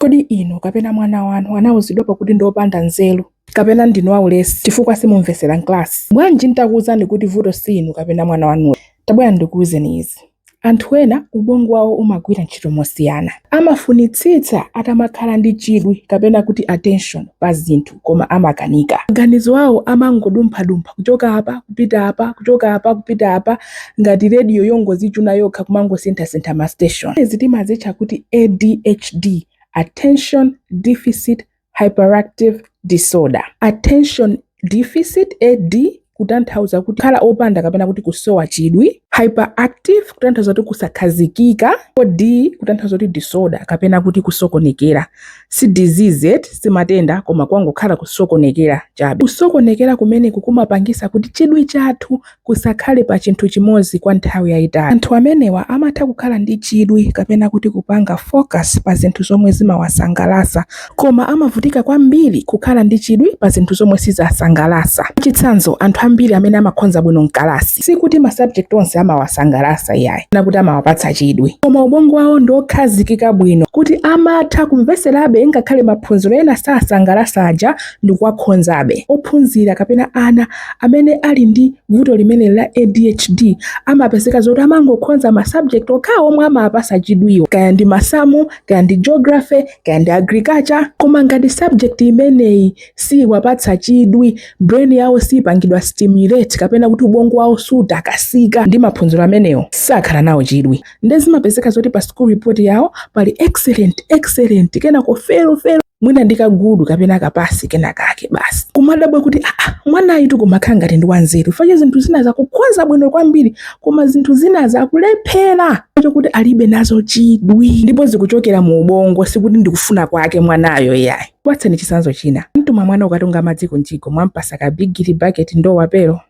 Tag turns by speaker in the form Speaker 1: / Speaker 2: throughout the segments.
Speaker 1: Kodi inu kapena mwana wanu anauzidwapo kuti ndi opanda nzeru? Kapena ndinu aulesi chifukwa simumvetsera m'kalasi? Bwanji n'takuuzani kuti vuto si inu kapena mwana wanuyo? Tabwerani ndikuuzeni izi. Anthu ena ubongo wawo umagwira ntchito mosiyana. Amafunitsitsa atamakhala ndi chidwi kapena kuti attention pa zinthu. koma amakanika. Maganizo awo amangodumphadumpha kuchoka apa kupita apa, kuchoka apa kupita apa, ngati radio yongozichuna yokha kumangosinthasintha ma station. Zimenezi timazitcha kuti ADHD, Attention Deficit Hyperactive Disorder. Attention Deficit, AD, kutanthauza kuti kukhala opanda kapena kuti kusowa chidwi hyperactive kutanthauza kuti kusakhazikika ko d kutanthauza kuti disorder kapena kuti kusokonekera si disease ee si matenda koma kwangokhala kusokonekera chabe kusokonekera kumeneku kumapangisa kuti chidwi chathu chisakhale pa chinthu chimodzi kwa nthawi yayitali anthu amenewa amatha kukhala ndi chidwi kapena kuti kupanga focus pa zinthu zomwe zimawasangalasa Koma amavutika kwambiri kukhala ndi chidwi pa zinthu zomwe zosasangalasa. Mwachitsanzo anthu ambiri amene amakhonza bwino mkalasi sikuti ma subject onse amawasangalasa iyayi kapena kuti amawapatsa chidwi. Koma ubongo wawo ndi okhazikika bwino kuti amatha kumveserabe ngakhale maphunziro ena osasangalasa aja ndikuwakhonzabe. Ophunzira kapena ana amene ali ndi vuto limeneli la ADHD amapezeka zoti amangokhonza ma subject okhawo omwe amawapasa chidwiwo kaya ndi masamu, kaya ndi geography, kaya ndi agriculture koma ngati subject imeneyi siyiwapatsa chidwi brain yawo siyipangidwa stimulate kapena kuti ubongo wawo sutakasika ndi maphunziro amenewo sakhala nawo chidwi nde zimapezeka zoti pa school report yawo pali excellent excellent kenako fail fail mwina ndi ka good kapena ka pass kena kake basi kumadabwa kuti aa mwanayutu kumakhala ngati ndi wanzeru chifukwa zinthu zinazi akukhoza bwino kwambiri koma zinthu zinazi akulephera nchokuti alibe nazo chidwi ndipo zikuchokera mu ubongo sikuti ndikufuna kwake mwanayo yayi apatseni chisanzo china mwamtuma mwana kukatunga madzi ku mjigo mwampasa ka bigiri bucket ndowa pero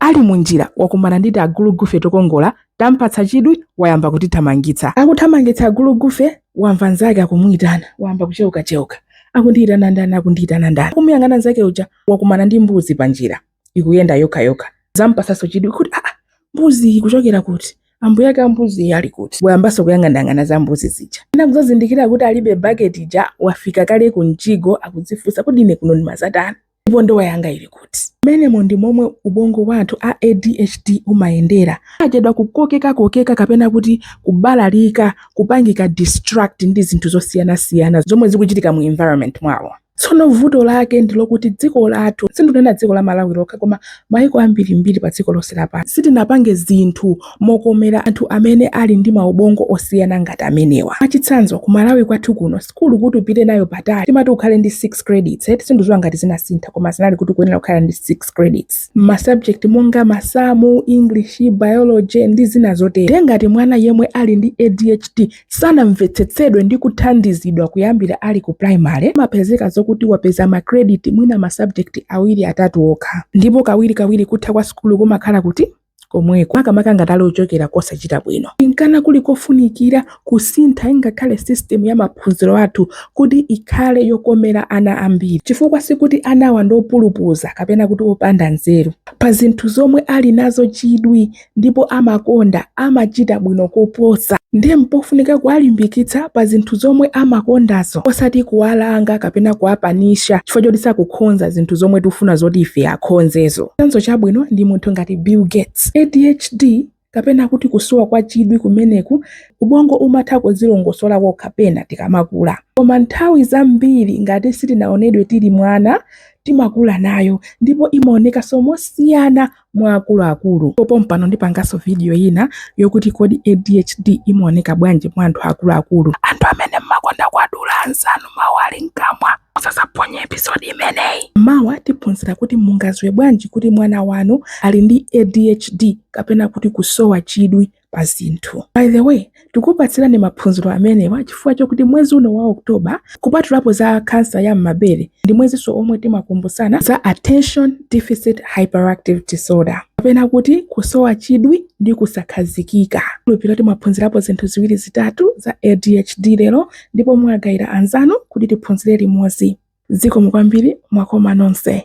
Speaker 1: ali munjira wakumana ndi tiagulugufe tokongola tampatsa chidwi wayamba kutithamangitsa akuthamangitsa agulugufe wamva nzake akumuyitana wayamba kucheuka cheuka akundiyitana ndani akundiyitana ndani kumuyang'ana nzake uja wakumana ndi mbuzi panjira ikuyenda yokha yokha zampatsanso chidwi kuti aa mbuzi iyi ikuchokera kuti ambuye ake ambuzi iyi ali kuti wayambanso kuyang'anayang'ana za mbuzi zija kenaka kuzazindikira kuti alibe baketi ija wafika kale ku mjigo akudzifunsa kodi ine kuno ndimazatani ndipo ndowa yanga ili kuti mmenemo ndi momwe ubongo wa anthu a adhd umayendera sachedwa kukokekakokeka kapena kuti kubalalika kupangika distract ndi zinthu zosiyanasiyana zomwe zikuchitika mu environment mwawo Tsono vuto lake ndi lokuti dziko lathu, sindunena dziko la Malawi lokha koma maiko ambiri mbiri pa dziko lonse lapansi, sitinapange zinthu mokomera anthu amene ali ndi maubongo osiyana ngati amenewa. Mwachitsanzo ku Malawi kwathu kuno sukulu kuti upite nayo patali timati ukhale ndi 6 credits eti, sinduziwa ngati zinasintha koma zinali kuti ukuyenera kukhala ndi 6 credits mma subject monga masamu, English, Biology ndi zina zotero. Nde ngati mwana yemwe ali ndi ADHD sanamvetsetsedwe ndi kuthandizidwa kuyambira ali ku primary amapezeka zokuti wapeza ma credit mwina ma subject awiri atatu okha ndipo kawiri kawiri kutha kwa sukulu kumakhala kuti komweko makamaka ngati ali ochokera kosachita bwino inkana kuli kofunikira kusintha ingakhale system ya maphunziro athu kuti ikhale yokomera ana ambiri chifukwa sikuti anawa ndi opulupudza kapena kuti opanda nzeru pa zinthu zomwe ali nazo chidwi ndipo amakonda amachita bwino koposa. Ndiye mpofunika kuwalimbikitsa pa zinthu zomwe amakondazo osati kuwalanga kapena kuwapanisha chifukwa choti sakukhonza zinthu zomwe tikufuna zoti ife akhonzezo. Chitsanzo chabwino ndi munthu ngati Bill Gates. ADHD kapena kuti kusowa kwa chidwi kumeneku ubongo umatha kuzilongosola kokha pena tikamakula, koma nthawi zambiri ngati sitinaonedwe tili mwana timakula nayo ndipo imaonekanso mosiyana mwa akuluakulu. Pompano ndipanganso vidiyo ina yokuti kodi ADHD imaoneka bwanji mwa anthu akuluakulu. Anthu amene mmakonda kuwadula anzanu mawu ali mkamwa, musazaphonye episode imeneyi. Mawa tiphunzira kuti mungadziwe bwanji kuti mwana wanu ali ndi ADHD kapena kuti kusowa chidwi. pa zinthu. By the way, tikukupatsirani maphunziro amenewa chifukwa chokuti mwezi uno wa October, kupatulapo za kansa ya m'mabere, ndi mwezinso omwe timakumbutsana za Attention Deficit Hyperactive Disorder kapena kuti kusowa chidwi ndi kusakhazikika. Nkhulupirira mwaphunzirapo zinthu ziwiri zitatu za ADHD lero ndipo mwagaira anzanu kuti tiphunzire limodzi. Zikomo kwambiri mwakoma nonse.